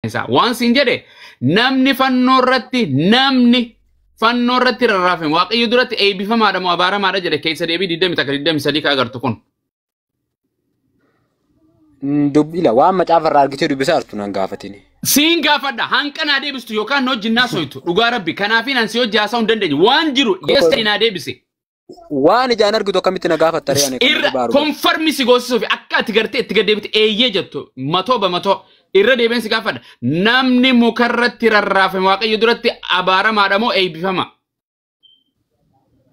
isaa waan siin jedhe namni fannoo irratti namni fannoo irratti rarraafame waaqayyo duratti eebbifamaadha moo abaaramaadha jedhe keessa deebii 21 ka agartu kun Mm, Dubbila waan macaafa irraa argitee dubbisaa jirtu nan gaafatini. siin gaafadha hanqa naa deebistu yookaan na wajjin naa soytu dhugaa rabbi kanaafi nan si hojii haasa'uu hin dandeenye waan jiru yes ta'e naa deebise Waan ijaan argitu akkamitti na gaafatta ree ani kan irra baaru. konfarmi si goosisuuf akka ati gartee itti gaddeebite eeyyee jettu matoo bamatoo irra deebiin si gaafadha namni mukarratti rarraafame waaqayyo duratti abaaramaadha moo eebbifama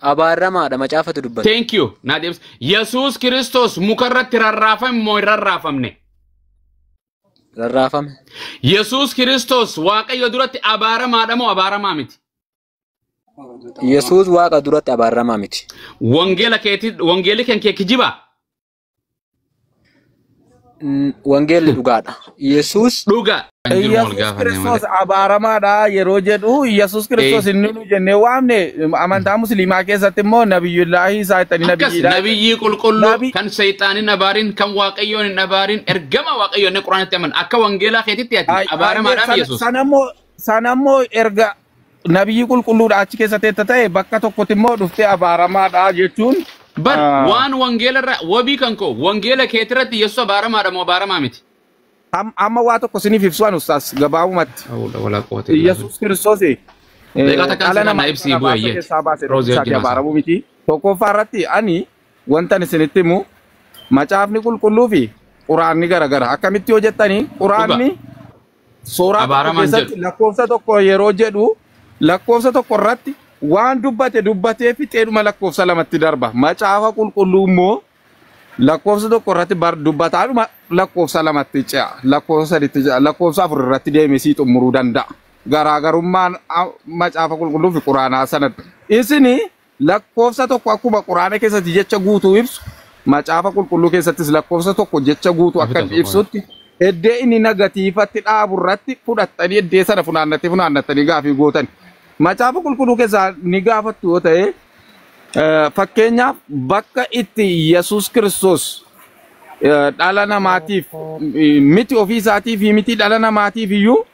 Abaaramaadha macaafatu dubbata. thank you naa deebis yesuus kiristoos mukarratti rarraafame moo hin rarraafamne Rarraafame. yesuus kiristoos waaqayyo duratti abaaramaadha moo abaaramaa miti Yesuus Waaqa duratti abaaramaa miti. Wangeela keetii wangeelli kan kee kijibaa? N- Wangeelli dhugaadha. Yesuus Dhugaa kan jiru wal Yesuus gaafanne malee. Kiristoos abaaramaadha yeroo jedhu Yesuus Ee, Kiristoos inni nu jennee waamne amantaa musliimaa keessatti immoo nabiyyullaahi isaa ittanii akkas nabiyyiidha jedhu. nabiyyii qulqulluu Nabi kan seexaan hin abaarin kan waaqayyoon hin abaarin ergama waaqayyoon inni quraanitti aman akka wangeelaa keetitti ati ay- ayyee abaaramaadhaam sana Yesuus. sana immoo sana immoo erga Nabiyyii qulqulluudha achi keessa teetta ta'e bakka tokkotti immoo dhuftee abaaramaadha jechuun Bar ah, waan wangeela irra wabii kan koo wangeela keetirratti Yesuus abaaramaadha moo abaaramaa miti? am- amma waa tokko isiniif ibsu an ustaas gabaabumatti. Hawla wala quwwata illa billah. Yesuus Kiristoos eh, Daqiiqaa takkaan dhala sirraa namaa naa ibsi irraa bu'e baasa iyyati. keessaa baase Roozii tokkicha wajjin ati haasa'u. abaaramuu miti. Tokkoffaa irratti ani wantan isinitti himu macaafni qulqulluu fi quraanni garagara. Akkamitti yoo jettani Dhugaa. quraanni Sooraa tokko Abaaramaan keessatti jedhu. lakkoofsa tokko yeroo jedhu lakkoofsa tokko irratti waan dubbate dubbatee fixeedhuma lakkoofsa lamatti darba. Macaafa qulqulluu immoo lakkoofsa tokko irratti bar dubbataadhuma lakkoofsa lamatti ce'a. Lakkoofsa sadiitti ce'a. Lakkoofsa afur irratti deemee sii xumuruu danda'a. Garaagarummaan a- macaafa qulqulluu fi quraanaa sanadha. Isinii Lakkoofsa tokko akkuma Qur'aana keessatti jecha guutuu ibsu, Macaafa Qulqulluu keessattis lakkoofsa tokko jecha guutuu akka Afita inni soqoon. ibsutti, eddee inni nagatiifatti dhaabu irratti fudhattanii eddee sana funaannattee funaannattanii gaafii gootan. Macaafa Qulqulluu keessaa ni gaafattu yoo ta'e, eh, fakkeenyaaf bakka itti Yesuus Kiristoos eh, dhala namaatiif eh, miti ofii isaatiif miti dhala namaatiif iyyuu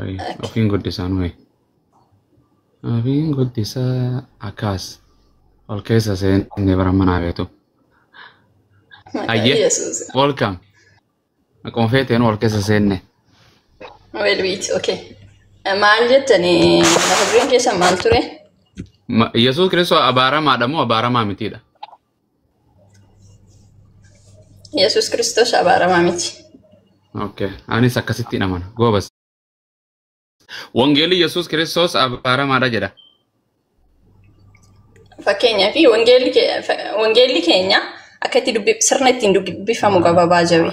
Ay, ofiin goddisaa nume. Ofiin goddisaa akkaas ol keessa seenne bara manaa beetu. Maqaa Ayyee, Yesuus. welcome. Akkuma feeteen ol keessa seenne. Well, wait, okay. Eh, Maal jettanii mata dureen keessan maal ture? Ma- Yesuus Kiristoos abaaramaadha moo abaaramaa mitiidha? Yesuus Kiristoos abaaramaa miti. Okay. Anis akkasittiin amana. Goobas. Wangeelli Yesuus Kiristoos abaaramaadha jedha. Fakkeenyaaf wangeelli ke- fa- wangeelli keenya akka itti dubbi- sirna ittiin dubbifamu gababaa jabe.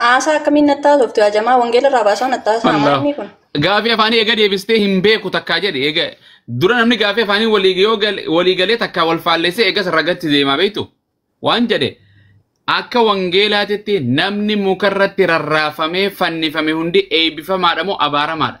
Haasaa akkamiin natti haasoftu yaa jamaa wangeela irraa baasaa natti haasaa Wallah. maal inni kun? Gaafii afaanii eega deebistee hin beeku takkaa jedhe eega dura namni gaafii afaanii walii yoo gal- walii galee takkaa wal faallessee eegas ragatti deemaa beektu waan jedhe akka wangeelaatitti namni mukarratti rarraafamee fannifame hundi eebbifamaadha moo abaaramaadha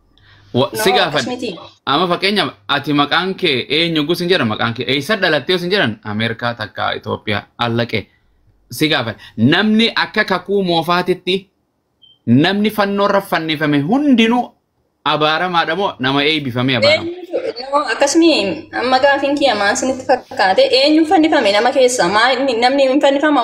Wa- si No, akkas gaafadhe miti. amma fakkeenyaaf ati maqaan kee eenyu gus hin jedhan maqaan kee eessa dhalattee os hin jedhan ameerikaa takka itoophiyaa allaqee si gaafadhe namni akka kakuu moofaatitti namni fannoorra fannifame hundinuu abaaramaadha moo nama eeybifamee abaarama Eenyutu- no, akkas miti. Amma gaafiin kiyya maal isinitti fakkaate? Eenyuun fannifame nama keessa? Maal inni- namni hin fannifamu?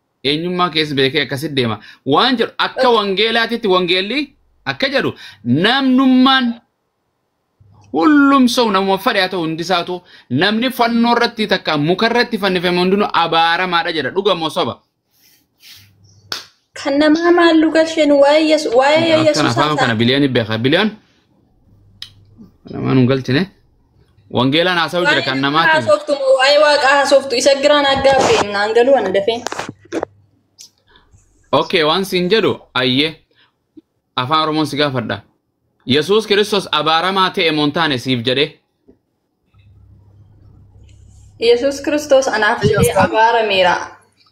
eenyummaa keessa beekee akkasitti deema. Waan jedhu akka wangeelaatitti wangeelli akka jedhu namnummaan hullumsa'u namuma fedhe haa ta'u hundi isaatu namni fannoo irratti takka muka irratti fannifame hundinuu abaaramaadha jedha dhuga moo soba. Kan namaa maal nu galcheen waa'ee Yesu- waa'ee Akkan Yesuus afaan kana biliyoon beeka biliyoon namaan hin galchine. Wangeelaan haasa'u jira kan namaati. haasoftu moo waa'ee waaqaa haasoftu isa giraan aggaa fe'in naan galuu ana dafee. Okay, waan siin jedhu ayyee afaan Oromoon si gaafadha. Yesuus Kiristoos abaaramaa ta'e moo hin taane siif jedhee. Yesuus Kiristoos anaaf jedhee abaarameera.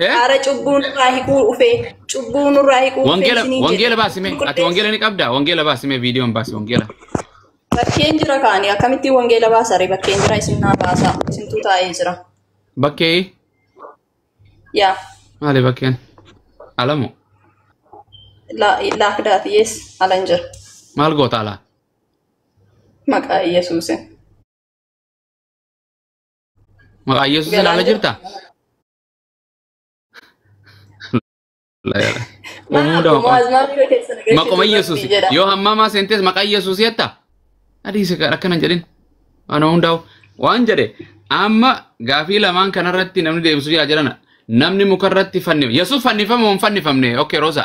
Eh? Ara cubbuu nurraa hiquu dhufe. Cubbuu nurraa hiquu dhufe Wangeela isiniin jedhe. wangeela baasime. Ati Qulqulleessa. wangeela ni qabda. Wangeela baasime viidiyoon baasi wangeela. Bakkeen jira kaani akkamittiin wangeela baasare bakkeen jira isin naa baasa isintuu taa'ee jira. Bakkee Yaa maali bakkeen? Alamu la- laakdaati yees alan jira maal goota alaa? maqaa Yesuusin. Maqaa Yesuus Galaan ilaala jirta? Uumuu dha maqaa. Maquma Yesuus. Yoo hammaamaa seentees maqaa Yesuus jetta? Adiisa akkana jedhin. Ana hundaa'u. Waan jedhe amma gaafii lamaan kanarratti namni deebisu jira jedhana. Namni mukarratti fannifame. Yesuus fannifame moo hin fannifamne? Okay, Rosa.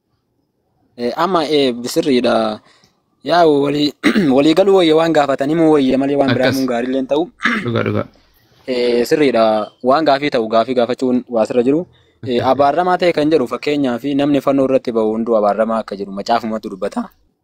Eh, Amma eh, sirriidha. Yaa walii walii galuu wayya waan gaafatanii moo wayya malee waan biraa Akkas. himuun gaarii illee hin ta'u. Dhugaa dhugaa. Eh, Sirriidha. Waan gaafii ta'u gaafii gaafachuun waa sirra jiru. Eh, Abaaramaa ta'e kan jedhu fakkeenyaaf namni fannoo irratti ba'u hunduu abaaramaa akka jedhu macaafumatu dubbata.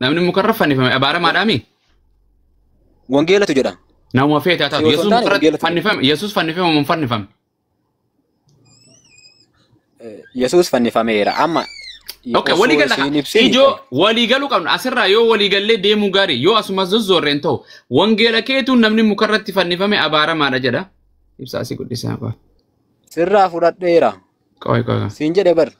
Namni mukarra fannifame abaaramaadhaami. Wangeelatu jedhama. Namuma feete haa taatu. Siyoosoo Yesuus taane mukarratti wangeelatu jedhama. fannifame. Yesuus fannifame moo hin fannifamne? Eh, Yesuus fannifameera. Amma Okay, osoo waliigala isiin ibsine ijoo waliigaluu qabna. Asirraa yoo waliigallee deemuu gaarii yoo asumas zozzoorre hin ta'u. Wangeela keetu namni mukarratti fannifame abaaramaadha jedha. Ibsaa si guddisaa qaba. sirraa fudhadheera. Qoy qoy. Siin jedhe bar.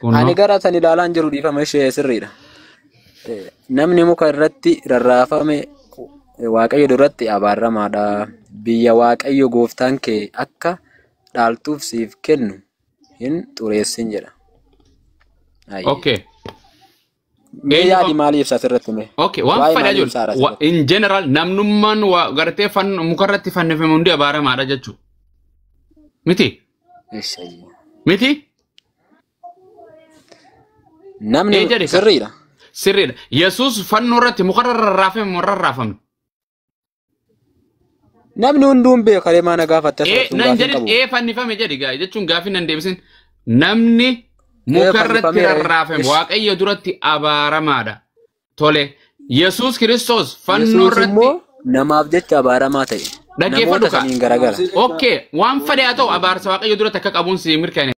Kunno. Ani gara san ilaalaan jiru dhiifama ishee sirriidha. Eh, Namni muka irratti rarraafame eh, Waaqayyo duratti abaaramaadha. Biyya Waaqayyo gooftaan kee akka dhaaltuuf siif kennu hin xureessin jedha. Ayyee. Okay. Mee Eenyu yaadi qaba? maalii ibsa asirratti mee? Okay, waan Waa'ee fedha maalii ibsa haadha jiru. asirratti? In general namnummaan waa gartee fan- mukarratti fannifame hundi abaaramaadha jechuu. Miti? Ishayyi. Miti? Namni Ee jedhe ka. sirriidha. Sirriidha. Yesuus fannoo irratti mukarra rarraafame moo hin rarraafamne? Namni hunduu hin beeku kalee maana gaafatta Ee, sun nan gaafii hin jedhin qabu. ee fannifame jedhi gaa jechuun gaafii nan deebisin namni muka irratti fannifame, ee. rarraafame Ish. waaqayyo duratti abaaramaadha tole yesus kiristoos fannoo Yesuus irratti immoo namaaf jecha abaaramaa ta'e. Dhaggeeffadhu Namoota kaa. saniin garagara. okay waan fedhe haa ta'u abaarsa waaqayyo duratti akka qabuun si mirkaneessa